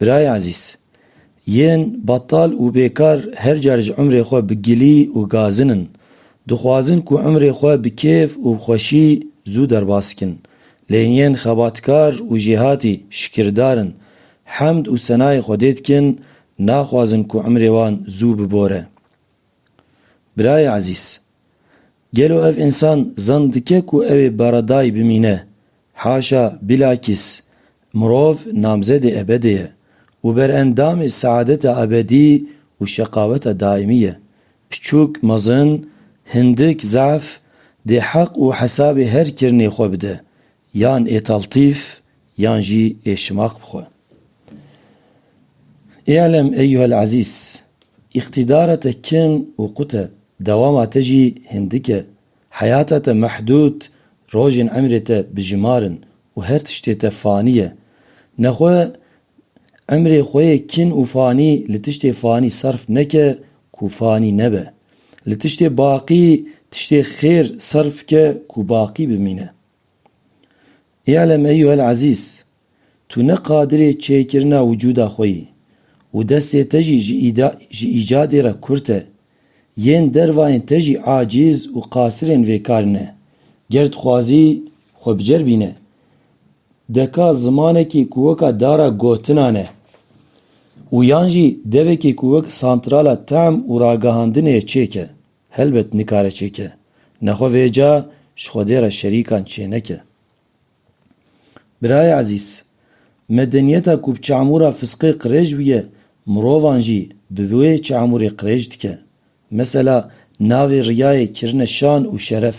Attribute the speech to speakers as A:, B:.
A: Birayê ezîz, yên betal û bêkar her car ji emrê xwe bi gilî û gazin in. Dixwazin ku emrê xwe bi kêf û bi xweşî zû derbas bikin. Lê yên xebatkar û jêhatî şikirdar in, hemd û senayê Xwedê dikin, naxwazin ku emrê wan zû bibore. Birayê ezîz, Gelo ev însan zan dike ku ew ê Baradayî bimîne? Haşa, bîlakîs, mirov namzedê ebedê ye û berendamê seadeta ebedî û şeqaweta daîmî ye. Piçûk, mezin, hindik, zaf, dê heq û hesabê her kirinê xwe bide, yan ê taltîf, Yan jî ê şimaq bixwe. Î'lem eyyuhel ezîz, îqtîdara te kin û qut e, dewama te jî hindik e, heyata te mehdûd, rojên emrê te bijimar in û her tiştê te fanî ye. Nexwe emrê xwe yê kin û fanî li tiştê fanî serf neke ku fanî nebe. Li tiştê baqî tiştê xêr serf bike ku baqî bimîne. Î'lem eyyuhel ezîz, tu ne qadirê çêkirina wicûda xwe yî û destê te jî ji îcadê re kurt e. Yên dervayên te jî acîz û qasirên vê karê ne. Ger dixwazî xwe biceribîne, deka zimanekî ku weka dara gotinan e û yan jî devekî ku wek santrala tehm û ragihandinê ye çêke. Helbet nikare çêke. Nexwe vêca ji Xwedê re şerîkan çêneke. Birayê ezîz, medeniyeta ku bi çamûra fisqê qirêj bûye, mirovan jî bi vê çamûrê qirêj dike. Mesela navê riyayê kirine şan û şeref.